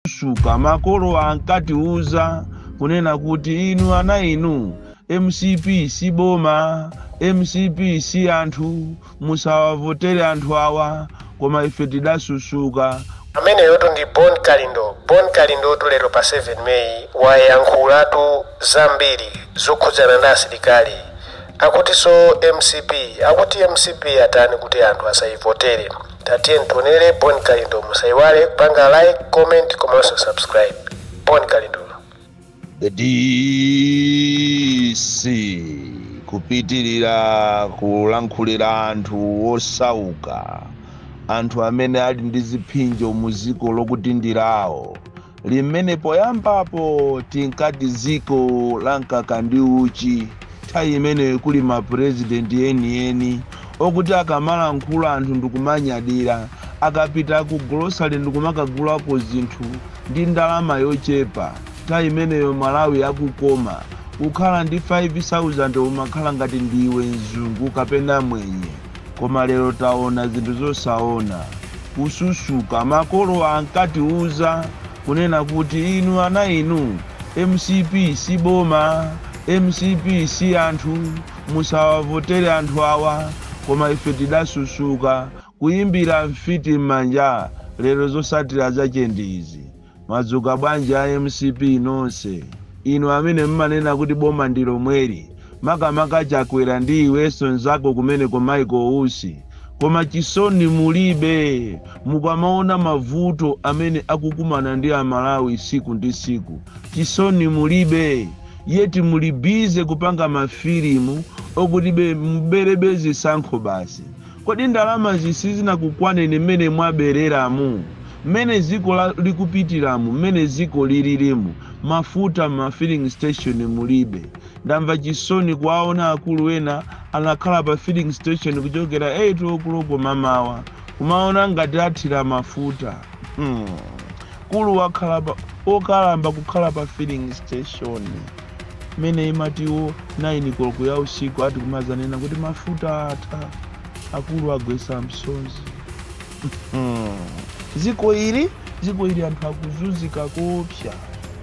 Susuka, makolo ankatiuza kunena kuti inu ana inu mcp si boma, mcp si anthu, musawavotere anthu awa koma ife tidasusuka. Ameneyotu ndi Bon Kalindo. Bon Kalindotu lero pa 7 May wayankhulatu zambiri zokhudzana ndi asilikali akutiso mcp, akuti mcp atani kuti anthu asayivotere. Tatiyeni tionele Bon Kalindo musaiwale kupanga like, comment komanso subscribe. Bon Kalindo. The DC kupitilira kulankhulira anthu osauka, anthu amene ali ndi ziphinjo mu ziko lokuti ndi lawo, limene poyambapo tinkati dziko la mkaka ndi uchi, nthawi imeneyo kuli ma president enieni okuti akamalankhula anthu ndikumanyadira, akapita ku grocery ndikumakagulako zinthu ndi ndalama yochepa, nthawi imeneyo Malawi akukoma, ukhala ndi 5000 umakhala ngati ndiwe mzungu kapena mwenye. koma lero taona zinthu zosaona kususuka makolo ankatiuza kunena kuti inu ana inu mcp si boma mcp si anthu musawavotere anthu awa koma ife tidasusuka kuyimbira mfiti m'manja lero zosatira zache ndi izi Madzuka bwanji a mcp nonse? Inu amene mmanena kuti boma ndi lomweli makamaka Chakwera ndi iwenso nzako kumeneko Michael Usi koma chisoni mulibe mukamaona mavuto amene akukumana ndi a Malawi siku ndi siku chisoni mulibe yet muli busy kupanga ma filimu okutibe muberebe zisankho basi Kodi ndalamazi sizinakukwaneni mmene mwabereramu, mmene dziko likupitiramu, mmene dziko lilirimu? Mafuta mma filling station mulibe. Ndamva chisoni kuwaona akulu ena anakhala pa filling station kuchokera 8:00 mamawa kumaona ngati athira mafuta. Hmm. Mkulu wakhala wokalamba kukhala pa filling station mmene imati iwo 9 koloko ya usiku ati kumazanena kuti mafuta atha akulu agwesa msozi Hmm. dziko ili dziko ili anthu akuzunzika koopsa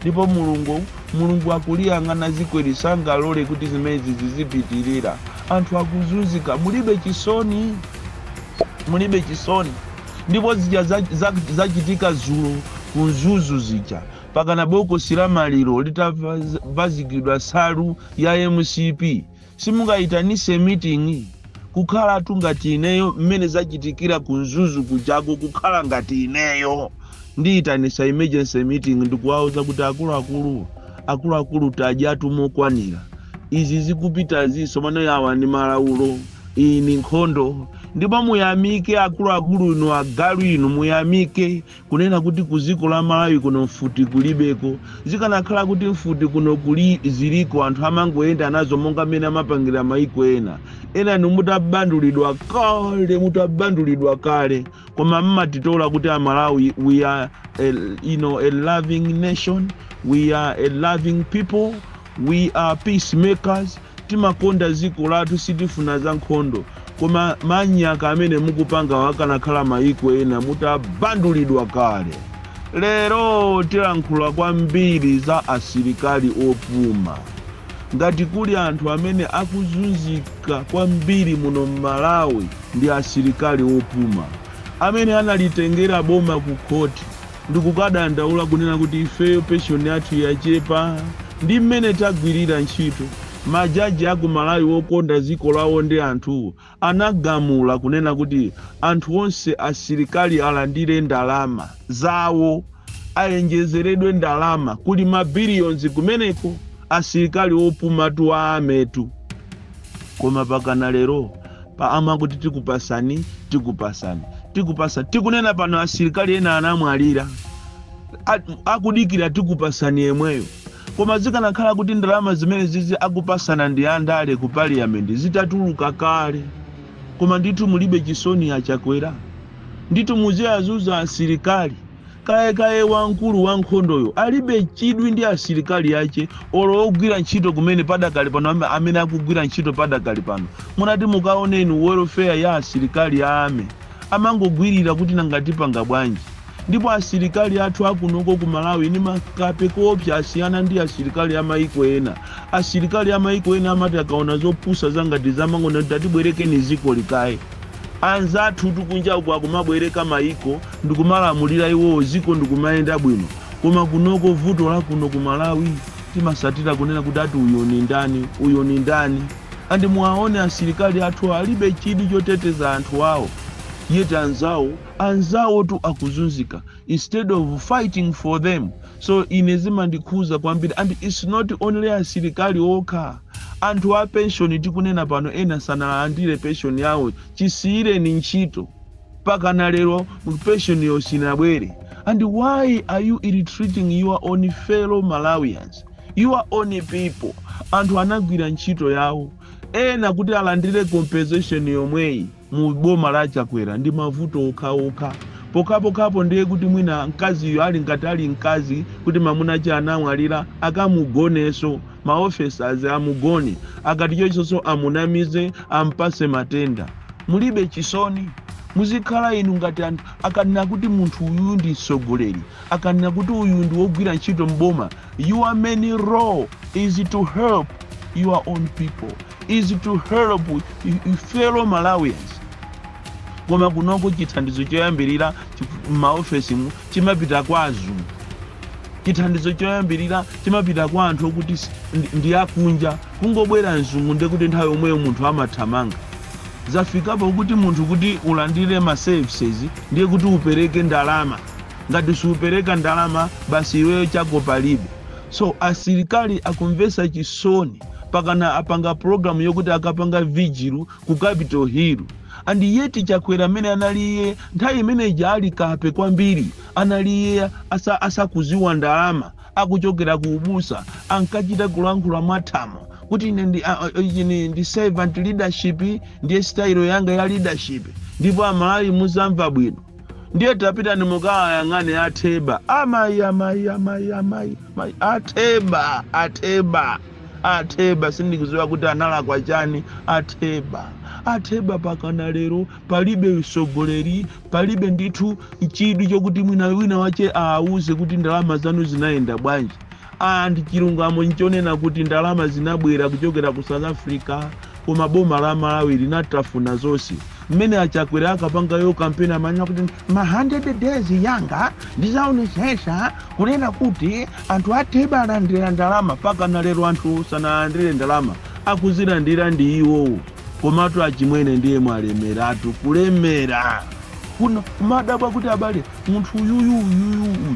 ndipo mulungu mulungu akuliyang'ana dziko ili sangalole kuti zimenezi zizipitirira anthu akuzunzika mulibe chisoni mulibe chisoni Ndipo zija zachitika zulo ku Mzuzu zija pakana bokosi la maliro litavazikidwa nsalu ya mcp simungayitanise meeting kukhalatu ngati ineyo mmene zachitikira ku Mzuzu kujako kukhala ngati ineyo ndiyitanisa emergency meeting ndikuwauza kuti akuluakulu akuluakulu tadyatu mokwanira izi zikupitazi tsopano yawa ndi malawulo Iyi ndi nkhondo ndipo muyamike akuluakulu inu agalu inu muyamike kunena kuti ku ziko la malawi kuno mfuti kulibeko zikanakhala kuti mfuti kuno kuli ziliko anthu amangoyenda nazo monga mmene amapangira maiko ena enanu mutabandulidwa kale mutabandulidwa kale koma mmatitola kuti amalawi we are a loving nation we are a loving people we are peacemakers Timakonda ziko lathu sitifuna za nkhondo koma manyaka amene mukupangawo akanakhala mayiko ena mutabandulidwa kale. Lero tilankhula kwambiri za asilikali opuma ngati kuli anthu amene akuzunzika kwambiri muno mmalawi ndi asilikali opuma amene analitengera boma ku khoti. ndikukadandaula kunena kuti ifeyo pension yathu yachepa ndi mmene tagwirira ntchito, majaji aku Malawi wokonda ziko lawo ndi anthuwo anagamula kunena kuti anthu onse asilikali alandire ndalama zawo, ayenjezeredwe ndalama, kuli ma billions kumeneko, asilikali opumatu a army tu. Koma pakana lero paja amati tikupasani tikupasani tikupasani tikunena pano asilikali ena anamwalira akudikira tikupasani yemweyo koma zikanakhala kuti ndalama zimenezizi akupasana ndi andale ku parliament zitatuluka kale koma ndithu mulibe chisoni a Chakwera ndithu muziwazunza asilikali Kayekaye wamkulu wa nkhondoyo alibe chidwi ndi asilikali ache olo ogwira ntchito kumene padakali pano amene akugwira ntchito padakali pano mutati mukaone inu welfare ya asilikali a army amangogwirira kuti nanga tipanga bwanji ndipo asilikali athu akunoko ku Malawi ni makape koopsa asiyana ndi asilikali a maiko ena asilikali a maiko ena amati akaona zopusa zangati izi amangonena kuti tatibwerekeni zikoli kaye Anzathutu kunja uko akumabwereka maiko ndikumalamulira iwowo ziko ndikumayenda bwino koma kunoko vuto lakuno ku malawi timasatira kunena kuti ati uyu nindani uyu nindani and muwaone asilikali athu alibe chidwi choteteza anthu awo yet anzawo anzawotu akuzunzika instead of fighting for them so ine zimandikhuza kwambiri and its not only asilikali okha anthu a penshoni tikunena pano ena sanalandire penshoni yawo chisiyireni ntchito pakana lero penshoniyo sinabwere and why are you ill-treating your own fellow malawians your own people anthu anagwira ntchito yawo ena kuti alandire compensation yomweyi mu boma la Chakwera ndi mavuto okhaokha pokhapokha ndiye kuti mwina mkaziyo ali ngati ali mkazi kuti mamuna ache anamwalira akamugoneso ma officers amugone akati chochisoso amunamize ampase matenda mulibe chisoni muzikhala inu ngati anthu akanena kuti munthu uyu ndi mtsogoleri akanena kuti uyu ndi wogwira ntchito mboma your main role is to help your own people is to help fellow malawians koma kunoko chithandizo choyambirira m'maofesimu chimapita kwa azungu chithandizo choyambirira chimapita kwa anthu okuti ndi akunja kungobwera mzungu ndekuti nthawi yomweyo munthu amathamanga zafikapo kuti munthu kuti ulandire ma services ndiye kuti upereke ndalama Ngati supereka ndalama basi iweyo chako palibe so asilikali akumvesa chisoni pakana apanga program yokuti akapanga vigil ku capital hill and yet chakwera mene anali iye nthawi imene ija ali kape kwambiri anali iye asa, asakuziwa ndalama akuchokera ku ubusa ankachita kulankhula mwathamo kuti ine ndi, a- a- ichi ni- ndi servant leadership ndiye style yanga ya leadership ndipo amalawi muzamva bwino Ndiye tapitani mukawayang'ane a Theba. Amayi, amayi, amayi, amayi, amayi. A Theba, a Theba, a Theba. Sindikuziwa kuti analakwa chani a Theba. A Theba pakana lero palibe usogoleri, palibe ndithu chidwi chokuti mwina wina wache aawuze kuti ndalama zanu zinayenda bwanji. And chilungamo nchonena kuti ndalama zinabwera kuchokera ku south africa koma boma la malawi linatafuna zonse mmene achakwera akapangayo kampeni amanena kuti ma 100 days yanga ndizaonesesa kunena kuti anthu atheba alandira ndalama pakana lero anthu sanalandire ndalama akuzilandira ndi iwowo komatu achimwene ndiye mwalemeratu kulemera kuno kumadabwa kuti abale munthu uyuyu uyuyu uyu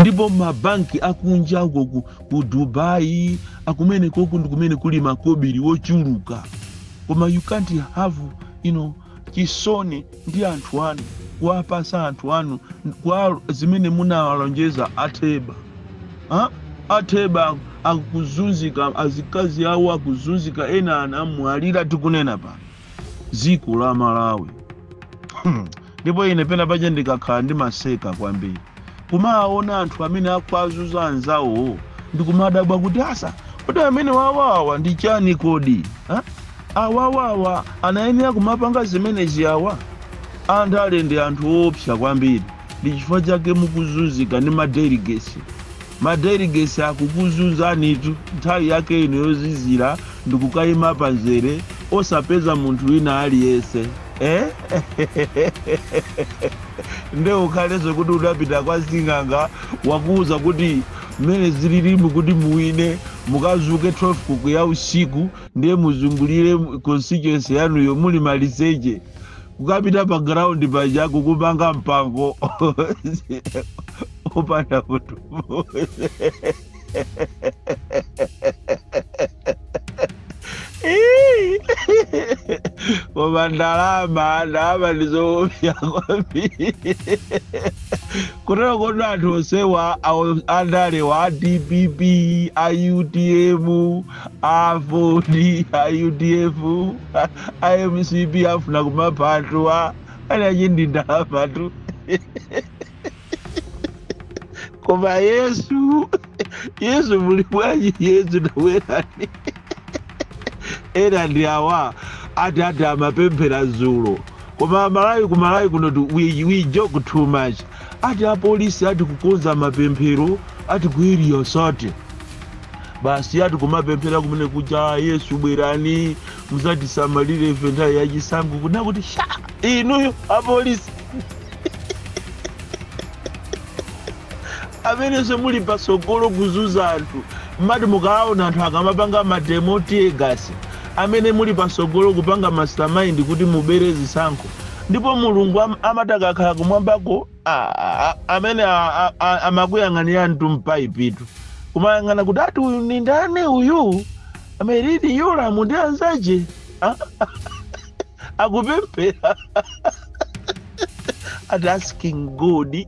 ndipo mabanki akunja uko ku, ku dubai kumenekoku ndi kumene kuli makobiri wochuluka koma you can't have you know, chisoni ndi anthu anu kuwapasa anthu anu kwa zimene munawalonjeza atheba ha? atheba akuzunzika azikazi awo akuzunzika ena anamwalira tikunena pano dziko la malawi Hmm. ndipo ine pena paja ndikakhala ndimaseka kwambiri kumaona anthu amene akuazuza anzawowo ndikumadabwa kuti asa kuti amene awawa ndi chani kodi ha? awawawa anayenera kumapanga zimenezi awa andale ndi anthu oopsa kwambiri ndi chifukwa chake mukuzunzika ndi madeligesi Ma delegates akukuzunzanitu nthawi yake ino yozizira ndikukaima pa nzere osapeza munthu wina aliyense eh? nde ukhaleso kuti udapita kwa sing'anga wakuuza kuti mmene zililimu kuti muwine mukazuke 12 koloko ya usiku ndiye muzungulire constituency yanuyo muli maliseche kukapita pa ground paja kukumanga mpango opanda munthu koma ndalama ndalama ndizoopsa kwambiri kutero kuti anthu onsewa andalewa a dpp a utm a aford a udf a- a mcp afuna kumapha anthu ana njinji ndalamatu koma yesu yesu muli bwanji yesu tabwerani ena ndi awa ati ati amapemphera zulo koma malawi ku malawi kuno tu- we, we joke too much ati apolisi ati kukonza mapemphero ati ku area 30 basi ati kumapemphera kumene kuja yesu bwerani muzatisamalire ife nthawi yachisankho kunena kuti sha inuyo apolisi amenenso muli patsogolo kuzuza anthu mmati mukaona anthu akamapanga mademo tear gas amene muli patsogolo kupanga mastermind kuti mubere zisankho ndipo mulungu am- amati akakhala kumwambako a- a- a- amene a- a- a- amakuyang'anirani m'paipitu kumayang'ana kuti ati uyu ni ndani uyu a merlyne yolamu ndi anzake Ah, akupemphera ati asking god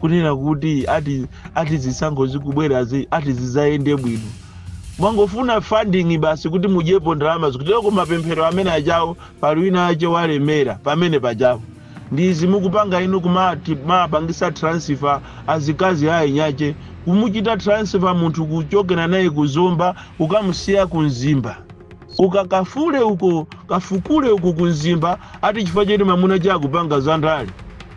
kunena kuti ati ati zisankho zikubwerazi ati zizayende bwino mwangofuna funding basi kuti mudyepo ndalama zotero ku mapemphero amene ajawo pali wina wake walemera pamene pajapo ndizi mukupanga inu kumapangisa transfer azikazi a eniake kumuchita transfer munthu kuchokera naye kuzomba kukamusiya ku mzimba ukakafule uko kafukule uko kunzimba ati chifukwa choti mamuna cha akupanga za ndale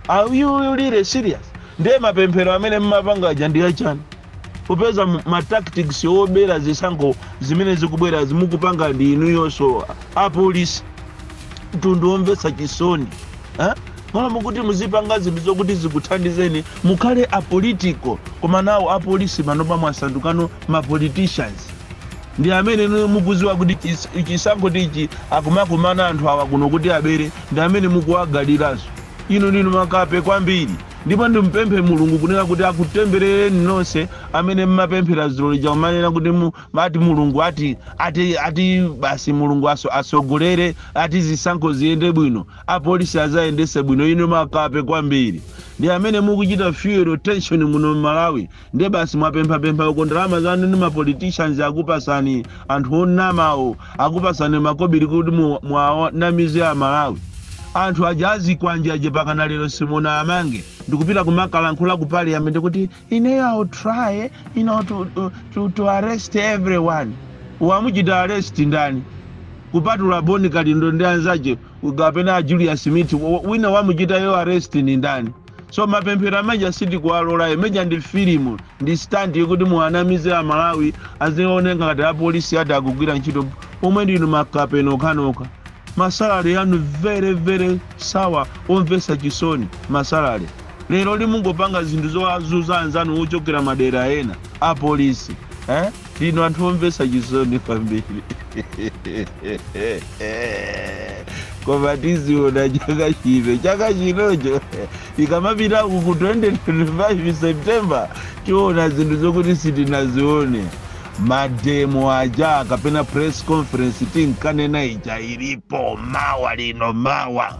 are you really serious ndiye mapemphero amene mmapanga aja ndi achani popeza mu- ma tactics obera zisankho zimene zikubwera zimene mukupanga ndi inuyonso apolisi mtundu omvetsa chisoni eh? mmalo mokuti muzipanga zinthu zokuti zikuthandizeni mukhale apolitical komano apolisi panopa mwasandukano mapoliticians Ndi amene inuyo mukuziwa kuti chis chisankhotu ichi akumakumana anthu awa kuno kuti abere ndi amene mukuwagadiraso inu ndinu makape kwambiri ndipo ndimupemphe mulungu kunena kuti akutemberereni nonse amene mmapemphera zulo lija kumanena kuti mu ati mulungu ati ati ati basi mulungu aso asogolere ati zisankho ziyende bwino apolisi azayendese bwino inu makape kwambiri ndi amene mukuchita fuel tension muno mmalawi Ndiye basi mwapemphapempha uko ndalama zanu ndi mapoliticians akupasani anthu onamawo akupasani makobiri kuti mu- muwanamize amalawi anthu aja azikwanje aja pakana lero simunawamange ndikupita kumakalankhula ku parliament kuti ineyo I'll try you know, to, to, to, to arrest everyone wamuchita arrest ndani kupatula boni kalindo ndi anzache kapena a julius mithi wina wamuchitayo arrest ndi ndani so mapemphero ameja sitikuwalola imeija ndi filimu ndi stunt yokuti muwanamize amalawi azioneka ngati apolisi ati akugwira ntchito pomwe ndinu makape inu okhanokha masalary yanu very very sour omvesa chisoni masalale lero limungopanga zinthu zowazuza anzanu ochokera madera ena apolisi eh? Inu anthu omvetsa chisoni kwambiri koma tiziona chaka chino chaka chinocho ikamapita uku 2025 september tiona zinthu zokuti sitinazione mademo aja kapena press conference tinkanena ija ilipo mawa lino mawa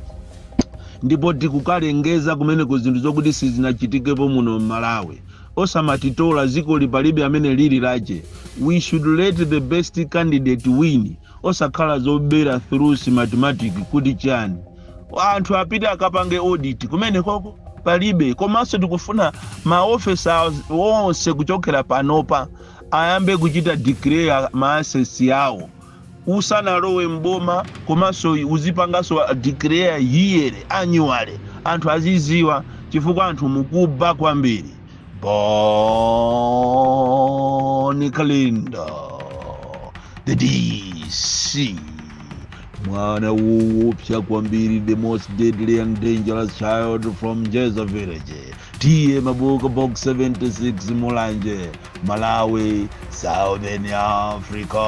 ndipo tikukalengeza kumeneku zinthu zokuti sizinachitikepo muno m'malawi osamatitola dzikoli palibe amene lili lache we should let the best candidate win osakhala zobera through smartmatic kuti chani anthu apite akapange audit kumenekoko palibe komanso tikufuna maofesa onse kuchokera panopa ayambe kuchita declare maassets awo usanalowe m'boma komanso uzipanganso declare yearly annually anthu aziziwa chifukwa anthu mukuba kwambiri boni kalindo the dc mwana woopsa kwambiri the most deadly and dangerous child from jeza village Tiye Mabuka Box 76 Mulanje Malawi Southern Africa